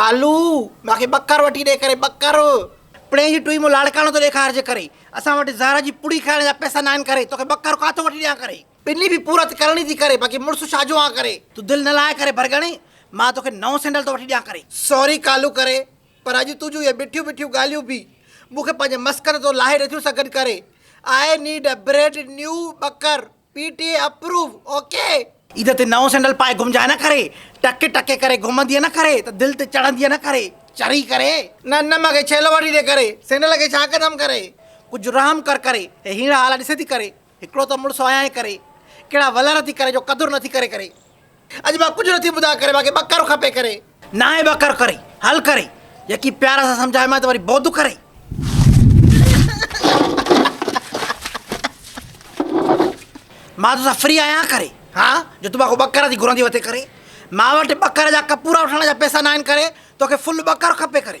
ڪالو! مان کي ٻڪر وٺي ڏي ڪري ٻڪر! پڻهين جي ٽوئي مون لاڙڪاڻو ٿو ڏيکارجي ڪري. اسان وٽ زهر جي پوڙهي کائڻ جا پئسا ناهن ڪري. توکي ٻڪر ڪاٿو وٺي ڏيان ڪري. پني به پورت ڪرڻي ٿي ڪري باقي مڙس شاجو آهان ڪري. تون دل نه لاء ڪري برگڻي. مان توکي نئون سينڊل ٿو وٺي ڏيان ڪري. سوري ڪالو ڪري. پر اڄ تون جون اهي مٺيون مٺيون ڳالهيون به مون کي پنهنجي مسڪن تون لاهي نٿيون سگهن ڪري. I need a brand new ٻڪر. P T A approve okay. Eid تي نئون سينڊل پائي گهمجانء نه ڪري. ٽڪ ٽڪ ڪري گهمندينء نه ڪري ته دل تي چڙهندينء نه ڪري. چري ڪري. نه نه مگهي ڇيلو وٺي ڏي ڪري. سينڊل کي ڇا ڪندم ڪري. ڪجهه رحم ڪر ڪري. هي هيڻا هالا ڏسي ٿي ڪري. هڪڙو ته مڙس آهيانء ڪري. ڪهڙا ولر ٿي ڪري جو قدر نٿي ڪري ڪري. اڄ مان ڪجهه نه ٿي ٻڌا ڪري مانکي ٻڪر کپي ڪري. ناهي ٻڪر ڪري حل ڪري يڪي پيار سان سمجهائي مان ته وري بوڌ ڪري. مان توسان فري آهيان ڪري ها جو تون مانکو ٻڪر ٿي گهرندي وتي ڪري مان وٽ ٻڪر جا ڪپورا وٺڻ جا پيسا ناهن ڪري توکي فل ٻڪر کپي ڪري.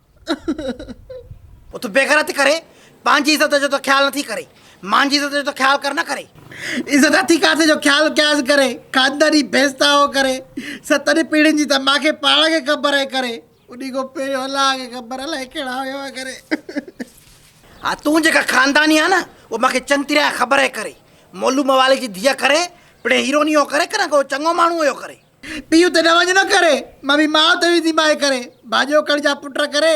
تون بيغيرتي ڪري پنهنجي عزت جو ته خيال نٿي ڪرين مانجي عزت جو ته خيال ڪر نه ڪري. عزت هٿي ڪاٿي جو خيال ڪيائس ڪري خانداني ڀيستائو ڪري ستن پيڙهين جي ته مانکي پاڻ کي خبر آهي ڪري انهي کان پهريون الله کي خبر الائي ڪهڙا هيا ڪري. ها تون جيڪا خانداني آهي نه اهو مانکي چڱي طرح خبر آهي ڪري مولو موالي جي ڌيء ڪري پڻهين هيروني هو ڪري ڪنهن کان اهو چڱو ماڻهو هيو ڪري. پيء تي نه وڃ نه ڪري. مان به ماء تي ويندي ماء ڪري. ڀاڄيو ڪڙ جا پٽ ڪري.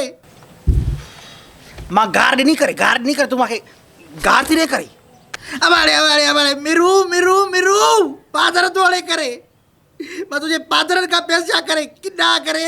مان گار ڏني ڪري گار ڏني ڪري تون مان کي گار ٿي ڏي ڪري. اٻاڙي اٻاڙي اٻاڙي مرو مرو مرو پادر ڌوڙي ڪري. مان تنهنجي پادرن کان پيس جا ڪري ڪنڊا ڪري.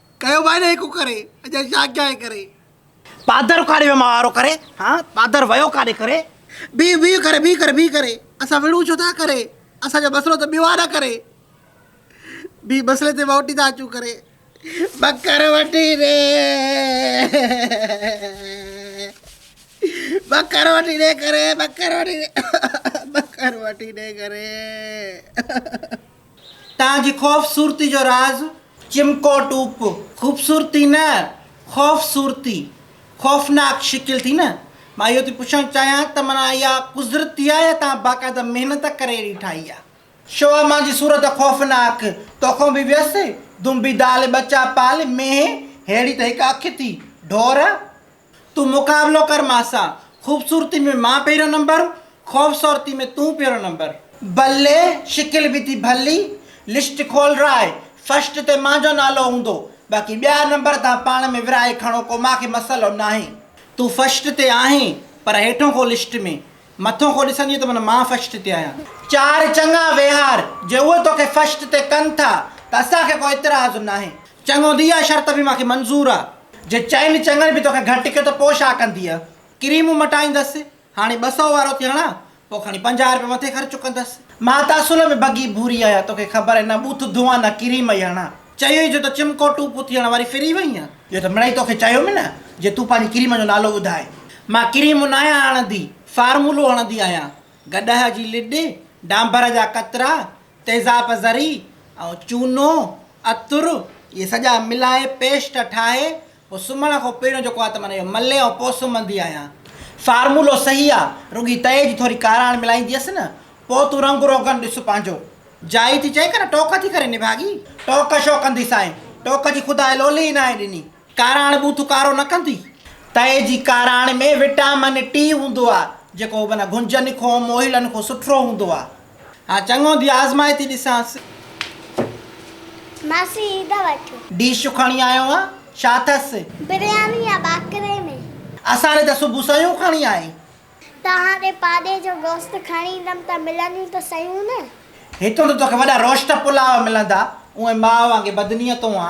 ڪيو بانه هڪ ڪري، اڄان شاخ جاء ڪري. پادر اکاڙي ويو ماهوارو ڪري، هان پادر ويو ڪاڏي ڪري. بيهه بيهه ڪري، بيهه ڪري، بيهه ڪري. اسان وڙهون ڇو ٿا ڪري، اسان جو مسئلو ته ٻيو آ نه ڪري. بيهه مسئلي تي مهوٽي ٿا اچون ڪري. ٻڪر وٺي ڏي، ٻڪر وٺي ڏي ڪري، ٻڪر وٺي ڏي، ٻڪر وٺي ڏي ڪري. تان جي خوف صورتي جو راز. چمڪو ٽوپ خوبصورتي نه خوف صورتي خوفناڪ شڪل ٿي نه. مان اهو ٿي پڇڻ چاهيان ته معنيٰ اها قذرتي آهي يا توهان باقاعده محنت ڪري اهڙي ٺاهي آهي. شوهه مان جي صورت خوفناڪ توکون به ويس دنبي دال ٻچا پال مينهن ههڙي ته هڪ اک ٿي ڍور. تون مقابلو ڪر مان سان. خوبصورتي ۾ مان پهريون نمبر. خوف صورتي ۾ تون پهريون نمبر. بلي شڪل به ٿي ڀلي. لسٽ کول راهي. فرسٽ تي مان جو نالو هوندو. باقي ٻيا نمبر توهان پاڻ ۾ ورهائي کڻو ڪو مان کي مسئلو ناهي. تون فرسٽ تي آهين پر هيٺون ڪو لسٽ ۾. مٿون ڪو ڏسندينء ته من مان فرسٽ تي آهيان. چار چڱا ويهار. جي اهي توکي فرسٽ تي ڪن ٿا ته اسان کي ڪو اعتراض ناهي. چڱو ڌيء اها شرط به مان کي منظور آ. جي چئن چڱن به توکي گهٽ ڪيو ته پوء ڇا ڪندينء؟ ڪريمون مٽائيندس. هاڻي ٻه سئو وارو ٿي هڻان، پوء کڻي پنجاهه رپيا مٿي خرچ ڪندس. مان ته اصل ۾ بگي ڀوري آهيان، توکي خبر آهي نه ٻوٿ ڌوئان نه ڪريم ئي هڻان. چيو ئي جو ته چمڪوٽون پوٿي هڻان، واري ڦري وئينء؟ اهو ته مڙئي توکي چيم نه جي تون پنهنجي ڪريم جو نالو ٻڌاء. مان ڪريم ناهيان هڻندي، فارمولو هڻندي آهيان. گڏهه جي لڏ، ڊانڀر جا قطرا، تيزاب زري ۽ چونو، عطر، اهي سڄا ملائي پيسٽ ٺاهي پوء سمهڻ کان پهريون جيڪو آ ته معنيٰ اهو ملي ۽ پوء سمهندي آهيان. فارمولو صحيح آ، رڳي تئي جي ٿوري ڪاراڻ ملائيندي هيس نه، پوء تون رنگ روغن ڏس پنهنجو. جائي ٿي چئي ڪنه ٽوڪ ٿي ڪرين نڀاڳي. ٽوڪ شو ڪندي سائين، ٽوڪ جي خداء لولي ئي ناهي ڏني. ڪاراڻ ٻوٿ ڪارو نه ڪندي. تئي جي ڪاراڻ ۾ وٽامن ٽي هوندو آ جيڪو ابن گهنجن کون موهيلن کون سٺرو هوندو آ. ها چڱو ڌيء آزمائي ٿي ڏسانس. ماسي عيد وٺ. ڊش کڻي آيو آ ڇا ٿس. برياني يا ٻاڪري ۾. اسان ڏي ته صبح سيون کڻي آئي. توهان ڏي پاڏي جو گوشت کڻي ايندم ته ملنديون ته سيون نه. هتون ته توکي وڏا روشت پلاء ملندا. اوهين ماء وانگي بدنيتون آ.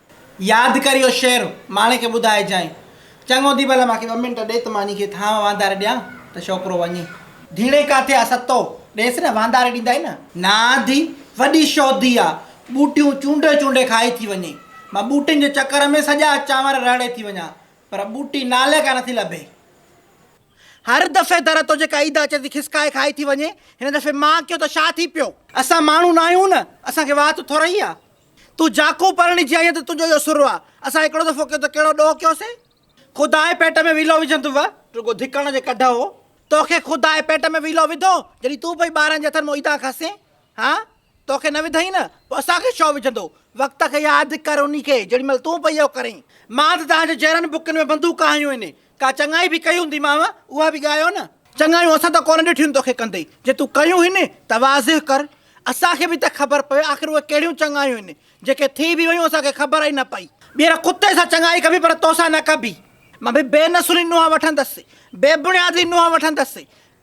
ياد ڪر اهو شعر ماڻي کي ٻڌائجانء. چڱو ڌي ڀلا مان کي ٻه منٽ ڏي ته مان انهي کي ٿانء وانڌاري ڏيان ته ڇوڪرو وڃي. ڌيڻي ڪاٿي آ ستو، ڏيس نه وانڌاري ڏيندائين نه. نا ڌي، وڏي شودي آ، ٻوٽيون چونڊي چونڊي کائي ٿي وڃي. مان ٻوٽين جي چڪر ۾ سڄا چانور رهڙي ٿي وڃان پر ٻوٽي نالي ڪا نٿي لڀي. هر دفعي در تو جيڪا عيدا اچي ٿي کسڪائي کائي ٿي وڃي، هن دفعي مان ڪيو ته ڇا ٿي پيو. اسان ماڻهو ناهيون نه، اسان کي وات ٿورئي آ. تون جاکون پرڻجي آئين ته تنهنجو اهو سر آ. اسان هڪڙو دفعو ڪيو ته ڪهڙو ڏوهه ڪيوسين. خدا ئي پيٽ ۾ ويلو وجهندو وئه، رڳو ڌڪڻ جي ڪڍ هو. توکي خدا ئي پيٽ ۾ ويلو وڌو، جڏهن تون پئي ٻارن جي هٿن مان ايڌان کسين ها؟ توکي نه وڌئين نه، پوء اسان کي ڇو وجهندو؟ وقت کي ياد ڪر انهي کي، جيڏي مهل تون پئي اهو ڪرين. مان ته توهان جي جهرن بکين ۾ بندوقا هنيون هين، ڪا چڱائي به ڪئي هونديمانء، اها به ڳايو نه. چڱايون اسان ته ڪونه ڏٺيون توکي ڪندي، جي تون ڪيون هن ته واضع ڪر، اسان کي به ته خبر پوي آخر اهي ڪهڙيون چڱايون هن، جيڪي ٿي به ويون اسان کي خبر ئي نه پئي. ٻيهر ڪتي سان چڱائي ڪبي پر توسان نه ڪبي. مان به بي نسلي نونهن وٺندس، بي بڻيادي نونهن وٺندس،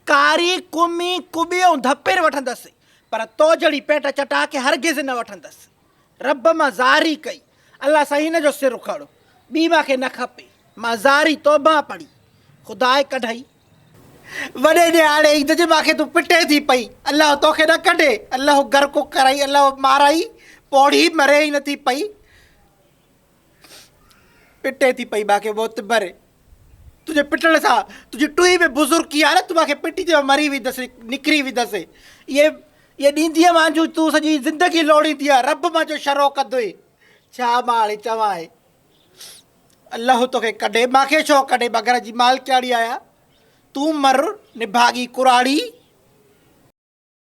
ڪاري، ڪمي، ڪٻي ۽ ڌپير وٺندس، پر تو جهڙي پيٽ چٽا کي هرگز نه وٺندس. رب مان زاري ڪئي الله سائين هن جو سر اکاڙو ٻي مان کي نه کپي مان زاري توبه پڙهي خداء ڪڍئي. وڏي ڏيهاڙي عيد جي مان کي تون پٽي ٿي پئي الله توکي نه ڪڍي الله غرق ڪرئي الله مارئي پوڙهي مري ئي نه ٿي پئي پٽي ٿي پئي مانکي معتبر تنهنجي پٽڻ سان تنهنجي ٽوئي ۾ بزرگي آ نه تون مانکي پٽي ته مري ويندس نڪري ويندس اهي اهي ڏيندينء مانجهون تون سڄي زندگي لوڙيندينء رب مانجهو شرو ڪندوئي ڇا مان هاڻي چوان اهي الله توکي ڪڍي مانکي ڇو ڪڍي مان گهر جي مالڪياڻي آهيان تون مر نڀاڳي ڪراڙي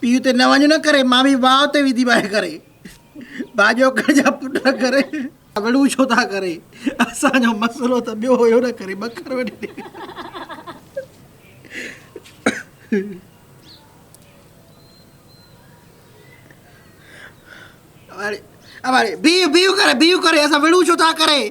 پيء تي نه وڃ نه ڪري. مامي واء تي ويندي باهه ڪري. ڀاڄوڪڙ جا پٽ نه ڪري. وڙهون ڇو ٿا ڪري. اسان جو مسئلو ته ٻيو هيو نه ڪري. ٻڪر وڍي ڏي. اٻاڙي اٻاڙي بيهه بيهه ڪري بيهه ڪري. اسان وڙهون ڇو ٿا ڪري.